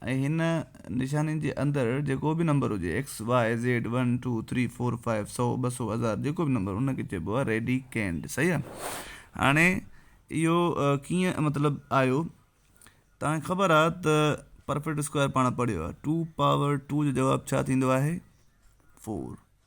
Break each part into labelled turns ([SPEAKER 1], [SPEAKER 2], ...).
[SPEAKER 1] ۽ هن نشانين جي اندر جيڪو به نمبر هجي، X, Y, Z, one, two, three, four, five, سؤ، ٻه سؤ، هزار، جيڪو به نمبر ان کي چئبو آهي ريڊي ڪينڊ صحيح آهي هاڻي اهو ڪيئن مطلب آيو توهان کي خبر آهي ته پرفيڪٽ اسڪوائر پاڻ پڙهيو آهي ٽو پاور ٽو جو جواب ڇا ٿيندو آهي فور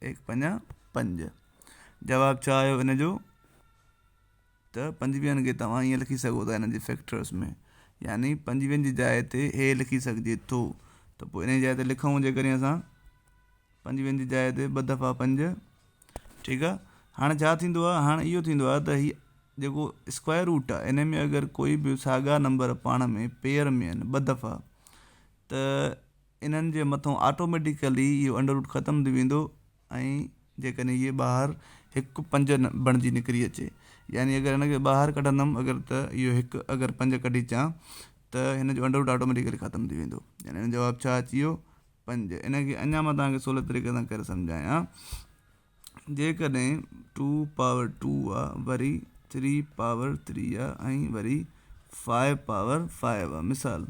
[SPEAKER 1] ايڪ پڃا پنج. جواب ڇا آيو ان جو ته پنجويهن کي توهان ائين لکي سگهو ٿا ان جي فيڪٽرس ۾ يعني پنجويهن جي جاء تي اهي لکي سگهجي ٿو ته پوء انهي جاء تي لکون جيڪڏهن اسان پنجويهن جي جاء تي ٻه دفعا پنج ٺيڪ آ هاڻي ڇا ٿيندو آ هاڻي اهو ٿيندو آ ته هي جيڪو اسڪوائر روٽ آ انهي ۾ اگر ڪوئي به ساڳا نمبر پاڻ ۾ پيئر ۾ آهن ٻه دفعا ته انهن جي مٿون آٽوميٽيڪلي اهو انڊروٽ ختم ٿي ويندو ۽ جيڪڏهن هيء ٻاهر هڪ پنج بڻجي نڪري اچي يعني اگر هن کي ٻاهر ڪڍندم اگر ته اهو هڪ اگر پنج ڪڍي اچان ته هن جو انڊروٽ آٽوميٽيڪلي ختم ٿي ويندو يعني هن جو جواب ڇا اچي ويو پنج انهن کي اڃا مان توهان کي سولي طريقي سان ڪري سمجهايان جيڪڏهن ٽو پاور ٽو آ وري ٿري پاور ٿري آ ۽ وري فائيو پاور فائيو آ مثال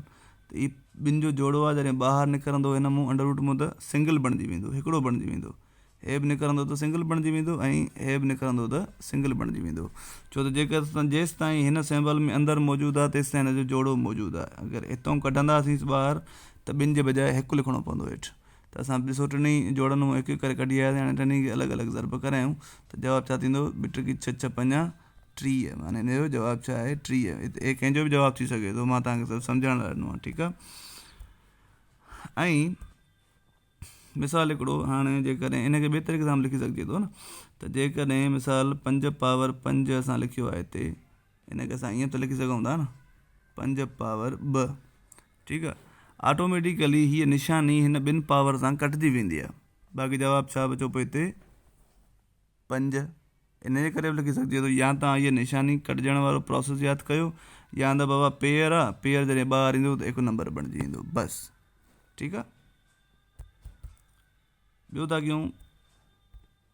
[SPEAKER 1] ته هي ٻن جو جوڙو آ جڏهن ٻاهر نڪرندو هن مون انڊر روٽ مون ته سنگل بڻجي ويندو هڪڙو بڻجي ويندو هي به نڪرندو ته سنگل بڻجي ويندو ۽ هي به نڪرندو ته سنگل بڻجي ويندو ڇو ته جيڪر جيستائين هن سيمبل ۾ اندر موجود آ تيستائين هن جو جوڙو موجود آ اگر هتئون ڪڍنداسين ٻاهر ته ٻن جي بجاء هڪ لکڻو پوندو هيٺ ته اسان ڏسو ٽنهي جوڙن منهن هڪ هڪ ڪري ڪڍي آياسين هاڻي ٽنهي کي الڳ الڳ ضرب ڪرايون ته جواب ڇا ٿيندو ٻه ٽڪي ڇهه ڇهه پنجاهه ٽيهه معني هن جو جواب ڇا آهي ٽيهه هتي اي ڪنهن جو به جواب ٿي سگهي ٿو مان توهان کي صرف سمجهائڻ لاء ڏنو آهي ٺيڪ آهي ۽ مثال هڪڙو هاڻي جيڪڏهن ان کي ٻي طريقي سان به لکي سگهجي ٿو نه ته جيڪڏهن مثال پنج پاور پنج اسان لکيو آهي هتي ان کي اسان ائين ته لکي سگهون ٿا نه پنج پاور ٻه ٺيڪ آ آٽوميٽيڪلي هيء نشاني هن ٻن پاور سان ڪٽجي ويندي آ باقي جواب ڇا بچو پوء هتي پنج ان جي ڪري به لکي سگهجي ٿو يا تان هيء نشاني ڪٽجڻ وارو پروسيس ياد ڪيو يا ته بابا پيئر آ پيئر جڏهن ٻاهر ايندو ته هڪ نمبر بڻجي ويندو بس ٺيڪ آ ٻيو ٿا ڪيون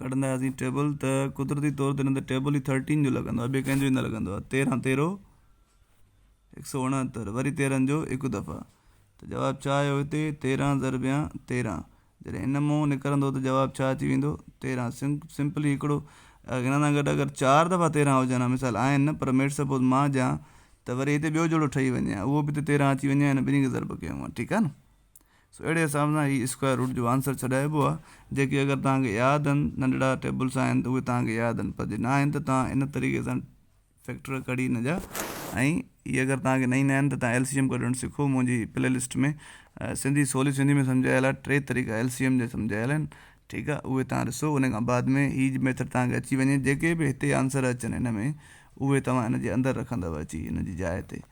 [SPEAKER 1] ڪڍنداسين ٽيبل ته قدرتي طور تي نه ته ٽيبل ئي ٿرٽين جو لڳندو آهي ٻئي ڪنهن جو ئي نه لڳندو آهي تيرهن تيرو هڪ سو اڻهتر وري تيرهن جو هڪ دفعا ته جواب ڇا آيو هتي تيرهن ضربيا تيرهن جڏهن ان مون نڪرندو ته جواب ڇا اچي ويندو تيرهن سم سمپلي هڪڙو ان سان گڏ اگر چار دفعا تيرهن هجن ها مثال آهن نه پر ميڊ سپوز مان هجان ته وري هتي ٻيو جوڙو ٺهي وڃي ها اهو به هتي تيرهن اچي وڃي ها ان ٻنهي کي ضرب ڪيون ها ٺيڪ آهي نه سو اهڙي حساب سان هي اسڪوائر روٽ جو آنسر ڇڏائبو آهي جيڪي اگر توهان کي ياد آهن ننڍڙا ٽيبلس آهن ته اهي توهان کي ياد آهن پر جي نه آهن ته توهان ان طريقي سان فيڪٽر ڪڍي هن جا ۽ هي اگر توهان کي نه ايندا آهن ته توهان ايل سي ايم ڪڍڻ سکو منهنجي پلي لسٽ ۾ سنڌي سولي سنڌي ۾ سمجهايل آهي ٽي طريقا ايل سي ايم جا سمجهايل آهن ٺيڪ آهي اهي توهان ڏسو ان کان بعد ۾ هي ميٿڊ توهان کي اچي وڃي جيڪي به هتي آنسر اچن هن ۾ اهي توهان هن جي اندر رکندو اچي هن جي جاء تي